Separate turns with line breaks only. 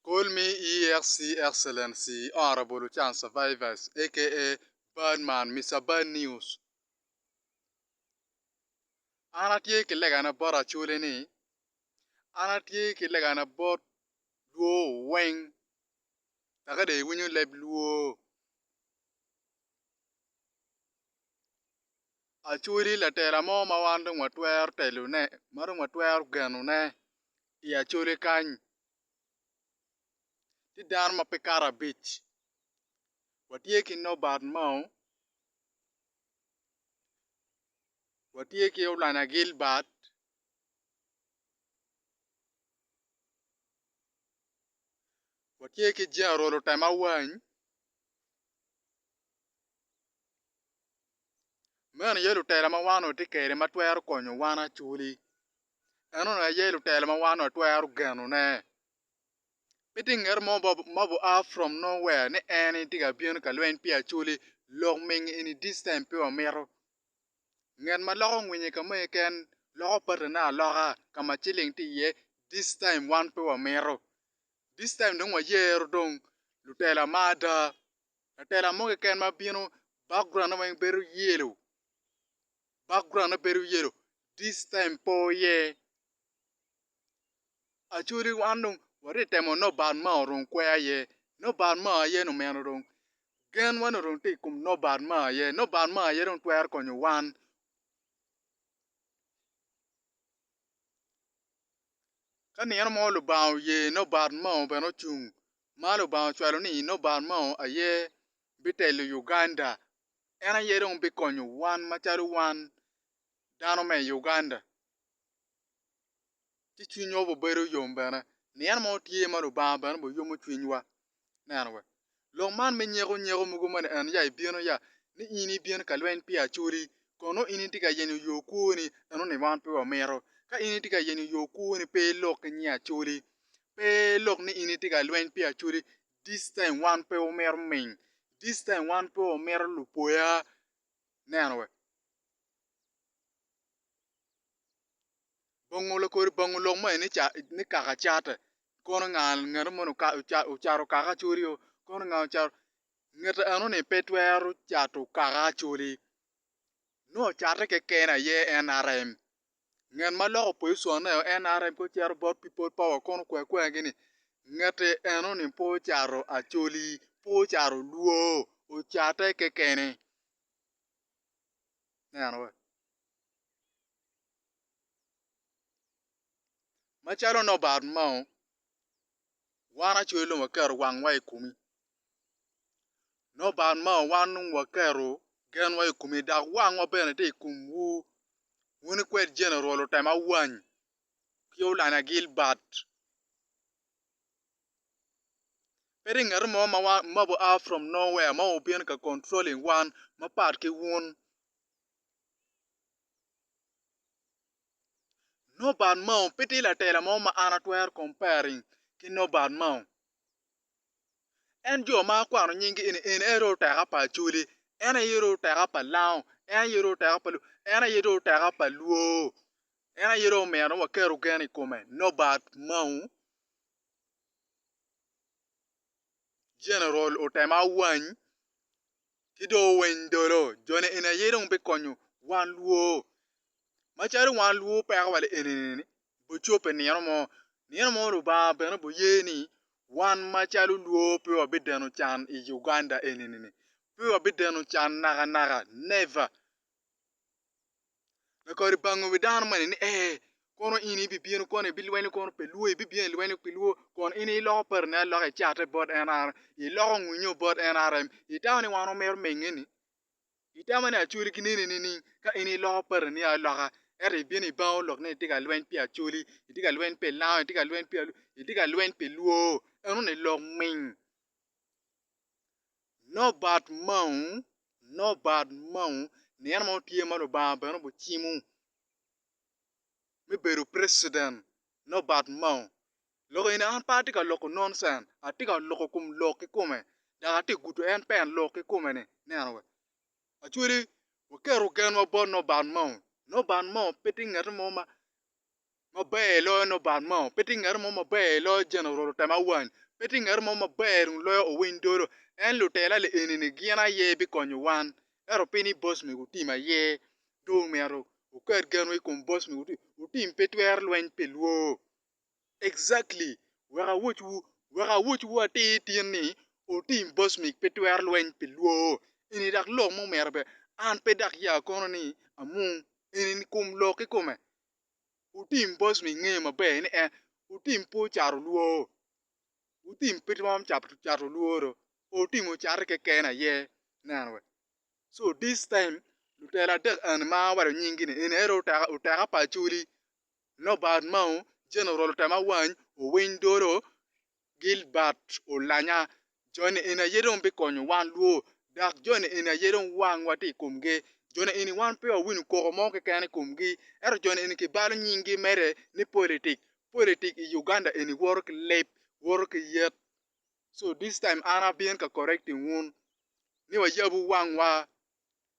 Call me EXC Excellency Honourable Ochan Survivors aka Bad Man Mister Bad News an atye ki legane bot Acholi ni an atye ki legane bot lwor wu weng aka dong iwinyo leb lwor Acholi latela mo ma wan dong watwero telone ma dong watwero genone i Acholi kany tye dano ma pe kato abic watye ki Nobert Mao, watye ki Olanya Gilbert. Meno aye lutela ma wan onongo watye kwede ma twero konyo wan acwli. En onongo aye lutela ma wan onongo watwero genone. Pe tye ngat mo ma oa from nowhere ni en tye ka bino ka lweny pi acwli lok ming in this time pe wamito. Ngat ma loko ngwinye ka mo keken loko patane aloka ka ma ciling tye iye this time wan pe wamito. This time dong wayero dong lutela ma ada. Latela mo keken ma bino background ne weng bedo yellow. Background ne bedo yellow. This time pe oye. Acholi wan dong watye ka temo nobat ma odong kweyo aye. Nobat ma aye ni omeno dong. Gen wa ni odong tye i kom nobat ma aye. Nobat ma aye dong twero konyo wan. Ka nino mo Lubanga oye nobat mo bene ocung ma Lubanga ocwalo ni Inoban Mao aye bitelo Uganda. En aye dong bikonyo wan macalo wan dano me i Uganda. Ci cwinywa obibedo yom bene ni en mo tye ma Lubanga bene bene yomo cwinywa. Neno we, lok man me nyeko nyeko mogo mene en ya ibino ya ni in ibin ka lweny pi Acholi kun nongo in itye ka yenyo yo kwoni eno ni wan pe wamito. Ka in itye ka yenyo yo kwoni pe ilok ki nying Acholi pe lok ni in itye ka lweny pi acholi this time wan pe wamito ming this time wan pe wamito lupoya neno we bongo lakodi bongo lok ma eni ni kaka cate kono nga ngene moni ocato kaka acholi o kono nga ocato ngete eno ni pe twero cato kaka acholi nongo cate keken aye nrm ngat ma loko poziconneo NRM kong cito bot pipol powa kong okwa akwa gini ngati enoni pe ocato Acholi pe ocato Luo ocate kekene ineno wa macalo Norbert Mao wan Acholi dong waketo wangwa i komi Noban ma wan dong waketo genwa i kome dok wangwa bene tye i komwu, wun ikwed Jenerol Lutemawany ki Olanya Gilbert. Pe tye ngat mo ma oa from nowhere ma obino ka controlling wan mapat ki wun. Noban mao pe tye latela mo ma an atwero comparing ki Noban mao. En jo ma akwano nyingi eni, en aye dong oteka pa Acholi, en aye dong oteka pa Lango, en aye dong oteka pa Luo, en aye dong oteka pa Luo, en aye dong omyero dong waket ogen i kome, Nobert Mao, General Otema Awany ki dong Owiny Dolo, joni eni aye dong bikonyo wan Luo, macalo wan Luo peko wa lienini-ni, Bocobbe nino mo, nino mo Lubanga bene obiye ni wan macalo lwor pe wabideno can i Uganda eni-ni. Pe wabideno can nakanaka, never! Lakadi bango wi dano moni ni, 'Ee, kono in ibibino kono ibilwenyo kono pi lwor, ibibino ilwenyo pi lwor, kun in iloko parini aloka, icate bot NRM, iloko ngwinyo bot NRM, itamo ni wan wamito mege-ni? Itama ni acwali ki neni nining? Ka in iloko pari ni aloka, ento ibino ibanga olok ni itye ka lweny pi acwali, itye ka lweny pi lango, itye ka lweny pi alwor, itye ka lweny pi lwor, eno ni lok ming. Nongo bat mamu, nongo bat mamu nino mo tye ma Lubanga bene obicimo me bedo precident, nongo bat mamu. Lok eni an pe atye ka loko nonsen, atye ka loko kom lok kikome, dok atye ka gudo en pen lok kikome ni, neno we. Acwali, waketo genwa bot Noban Mao. Noban Mao pe tye ngete mo ma maber iloyo Noban Mao, pe tye ngete mo maber iloyo Jeneral Temawany, pe tye ngete mo maber dong loyo Owiny Dolo. En lutela li eni ni gin aye bikonyo wan, ento pi ni boss mego Otim aye, ci omyero wuket genwu i kom boss mego Otim. Otim pe twero lweny pi lwor. Exactly, wek awoc wu, wek awoc wu atir tin ni otim bosmik pe twero lweny pi lwoo eni dak lok mo mere pe, an pe dak ya kono ni amung eni ni kum lok ki kume. Otim bosmik ngeyo maber ni en otim pe ocato lwoo, otim pe twom cato lwoo do, otim ocati keken aye, neno we. So this time lutela adek eni ma awaco nying gi ni eni ento oteka pa acholi, Nobart Mao, Jeneral Otema Wany, Owiny Dolo, Gilbert Olanya, joni eni aye dong bikonyo wan lwo, dok joni eni aye dong wangwa tye i komgi. Joni eni wan pe wawinyo koko mo keken i komgi, ento joni eni kibalo nyinggi mere ni politik. Politik i Uganda eni woto ki lip, woto ki yet. So this time an abino ka correcting wun ni wayabu wangwa.